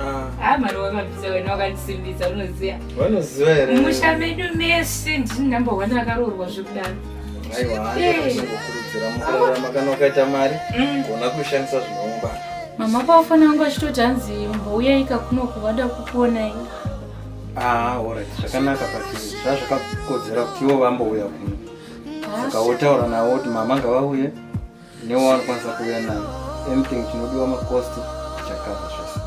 Ah. Ah, mari wakabvisa wena wakandisimbisa unoziva vanoziva here mumusha medu mese ndini number one akaroorwa zvekudaro aiwa handiakukurudzira mukurarama kana ukaita mari Mm. gona kuishandisa zvinoumba mama paufana wangu achitoti hanzi mbouyayika kuno kuvada kukuonai aa orit Ah, zvakanaka but zvazvakakodzera kuti ivo vambouya kuno saka wotaura navo kuti mama ngavauye newaanokwanisa kuuya nayo anything chinodiwa macost chakava zvese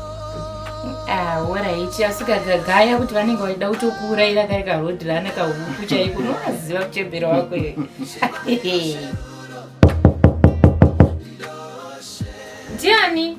horaiti ah, asi kagagaya kuti vanenge vachida kutokuurayira kari karhodhi rana kahuku chaiko unovaziva kuchembera wako iwe ndiani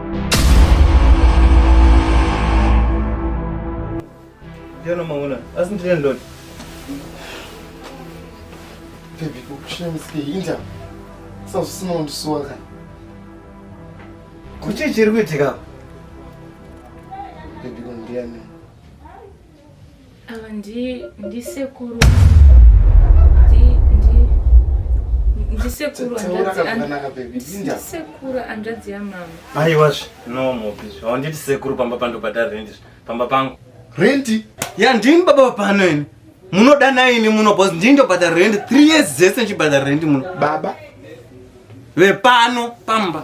Jana maona, asi ndine ndoti. Baby, kukushira misike hinda. Sasa usina undisuwa kana. Kuchi chiri kuitika? Baby, kundiani. Ava ndisekuru ndisekuru hanzvadzi yamama aiwazve no mobis haunditi sekuru pamba pandobhadhara rendi pamba pangu rendi ya ndini baba vapano ini munoda naini muno bcause ndini ndobhadhara rendi three years dzese ndichibhadhara rendi muno baba vepano pamba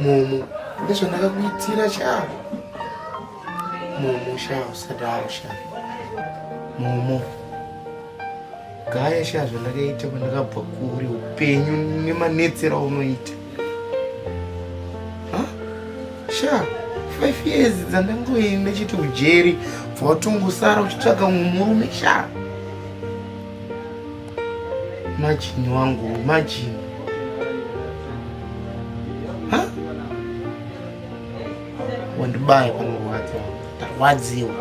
Momo, ndizvandakakuitira shaa. Momo shaa usadaro shaa. Momo. Gaya shaa zvandakaita kwandakabva kuri upenyu nemanetsera unoita. Ha? Shaa, five years dzandangoenda chiti ujeri, bva watongosara uchitsvaga mumwe murume shaa. Imagine wangu, imagine. Huh? Wandibaya panorwadza, tarwadziwa.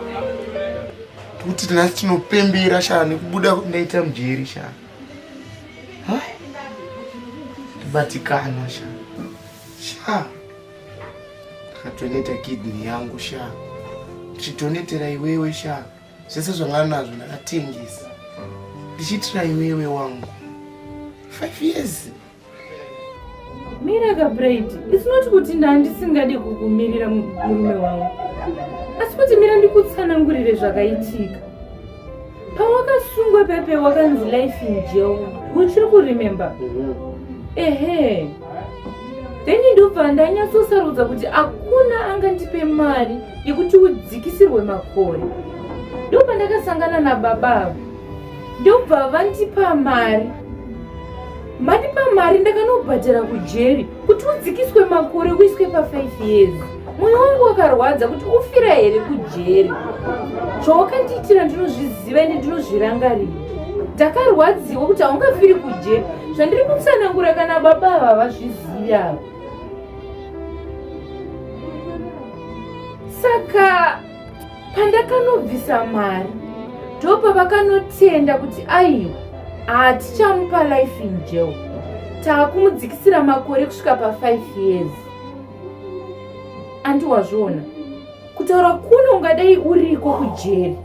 Kuti tinasi tinopembera shaa nekubuda ndaita mujeri shaa. Huh? Tibatikana shaa. Shaa. Ndakatoneta kidney yangu shaa. Ndichitonetera iwewe shaa. zvese zvanga nazvo ndakatengesa ndichiitira iwewe wangu five years mira kabraid its not kuti ndandisingade kukumirira murume wangu asi kuti mira ndikutsanangurire zvakaitika pawakasungwa pepe wakanzi life in jail uchiri kuremember mhm. ehe mm -hmm. then ndobva ndanyatsosarudza kuti hakuna angandipe mari yekuti udzikisirwe makore ndobva ndakasangana nababa avo ndobva vandipa mari mandipa mari ndakanobhadhara kujeri kuti udzikiswe makore uiswe pa5 years mwoyo wangu wakarwadza kuti ufira here kujeri chawakatiitira ndinozviziva ende ndinozvirangarira ndakarwadziwa kuti haungafiri kujeri zvandiri kutsanangura kana baba ava vazvizivi ava saka pandakanobvisa mari ndopa vakanotenda kuti aiwa hatichamupa life in jail taakumudzikisira makore kusvika pa5 years andi wazviona kutaura kuno ungadai uriko kujeri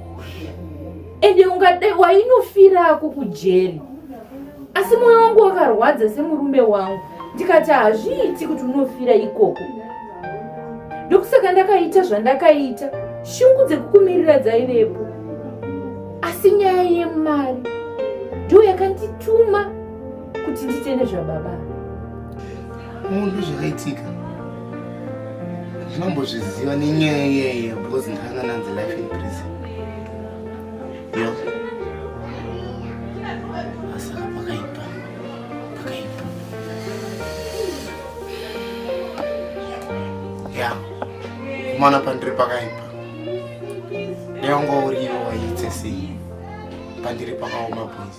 ende ungadai wainofirako kujeri asi mwoyo wangu wakarwadza semurume wangu ndikati hazviiti kuti unofira ikoko ndokusaka ndakaita zvandakaita shungu dzekukumirira dzaivepo asi nyaya yemari ndiyo yakandituma kuti nditende zvababa Munhu zvakaitika zvinombozviziva nenyaya iyeye because ndanga nanzi life in prison yo asaka pakaipa pakaipa ya kumana pandiri pakaipa neongo uriwo waitse sei pandiri pakaoma boys